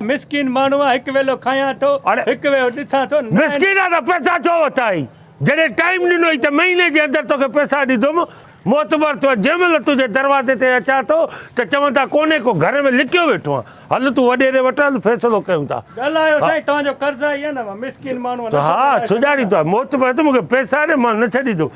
مسڪين ماڻهو هڪ ويلو کايان ٿو هڪ ويو ڏسان ٿو. مسڪينا ته پئسا ڇو وتا هئي جڏهن ٽائيم ڏنو هئي ته مهيني جي اندر توکي پئسا ڏيندم معتبر ٿو جنهن مهل تنهنجي دروازي تي اچان ٿو ته چوندا ڪونهي ڪو گهر ۾ لڪيو ويٺو آن هل تون وڏيري وٽ هل فيصلو ڪيون ٿا. ڳالهايو سائين توهان جو قرض آهي يا نه مسڪين ماڻهو نه ٿو ڳالهائي سگهي. ها سڃاڻي ٿو معتبر ته مونکي پئسا ڏي مان نه ڇڏيندم.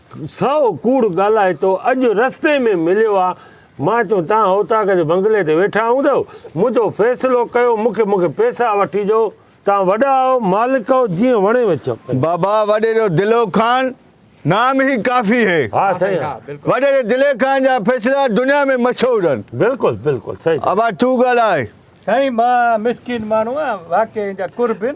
سائو ڪوڙ ڳالهائي تو اڄ رستي ۾ مليو آ مان چيو توهان اوطاق جي بنگلي تي ويٺا هوندؤ منهنجو فيصلو ڪيو مونکي مونکي پيسا وٺي ڏيو توهان وڏا آهو مالڪ آهو جيئن وڻيو اچيو ڪيو. بابا وڏي جو دلو خان نام هي ڪافي هي. ها سائين ها بلڪل. وڏي جو دلي خان جا فيصلا دنيا ۾ مشهور هن. بلڪل بلڪل سهي چيو. ابا تون ڳالهاء. سائين مان مسڪين ماڻهو آهيان واقعي ان جا قربين.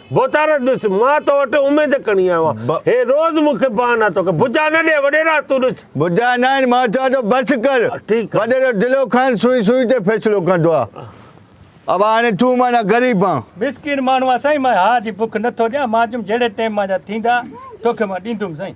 بوتارت ڏس، مان تو وٽ اميد ڪڻي آيو آهيان. ب. هي روز مون کي بهانا ٿو ڪري. ڀڄا نه ڏي وڏيرا، تون ڏس. ڀڄا نه آهن، مان چوان ٿو بس ڪر. ٺيڪ آهي. وڏيرو دلو خان سوئي سوئي تي فيصلو ڪندو آ. ابا هاڻي تون معنيٰ غريب آن. مسڪين ماڻهو آ سائين. مان هاء جي بک نه ٿو ڏيان. مان چيم جهڙي ٽيم مان جا ٿيندا، توکي مان ڏيندم سائين.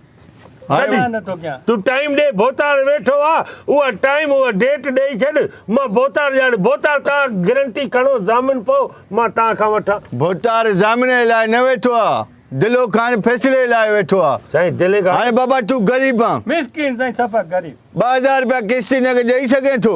ڏي. تون ٽائيم ڏي ڀوتار ويٺو آ اها ٽائيم اها ڊيٽ ڏئي ڇڏ مان ڀوتار ڄاڻي ڀوتار توهان گرنٽي کڻو ضامن پئو مان توهان کان وٺان. ڀوتار ضامن لاء نه ويٺو آ دلو خان فيصلي لاء ويٺو آ سائين دلي خان. هاڻي بابا تون غريب آن. مسڪين سائين سفا غريب. ٻه هزار رپيا قسطي نقد ڏئي سگهين ٿو.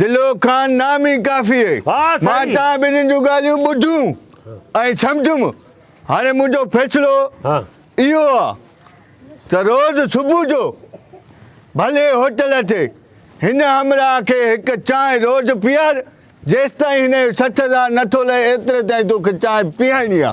دلو خان نامي ڪافيء مان توهان ٻنهين جون ڳالهيون ٻڌيون ۽ سمجهيم. هاڻي منهنجو فيصلو اهو آ ته روز صبح جو ڀلي هوٽل تي هن همراهه کي هڪ چانهه روز پيار، جيستائين هن جو سٺ هزار نه ٿو لهي ايتري تائين توکي چانهه پيئائڻي آ.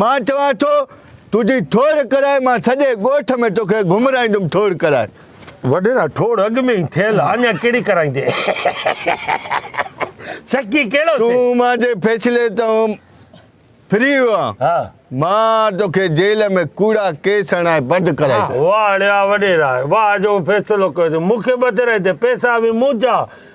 مان چوان ٿو تنهنجي ٺوڙ ڪرائي مان سڄي ڳوٺ ۾ توکي گهمرائيندم ٺوڙ ڪرائي. وڏيرا ٺوڙ اڳ ۾ ئي ٿيل آ اڃا ڪهڙي ڪرائيندين سڪي ڪهڙو ٿئي. تون مانجي فيصلي تان ڦري ويو آن مان توکي جيل ۾ ڪوڙا ڪيس هڻائي بند ڪرائي ڇڏيندم. واهڙيا وڏيرا واهه جو فيصلو ڪيو اٿئي مونکي ٻڌرائي تي پيسا به منهنجا.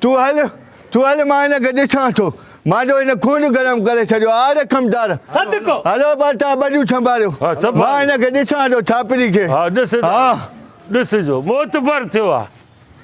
تون هل، تون هل، مان هن کي ڏسان ٿو. مان جو هن خون گرم ڪري ڇڏيو آ، رقم دار! هلو ٻاٽا، ٻڏيون ڇنڀاريو. مان هن کي ڏسان ٿو، ڇاپري کي. ها، ڏسجو، موتبر ٿيو آ.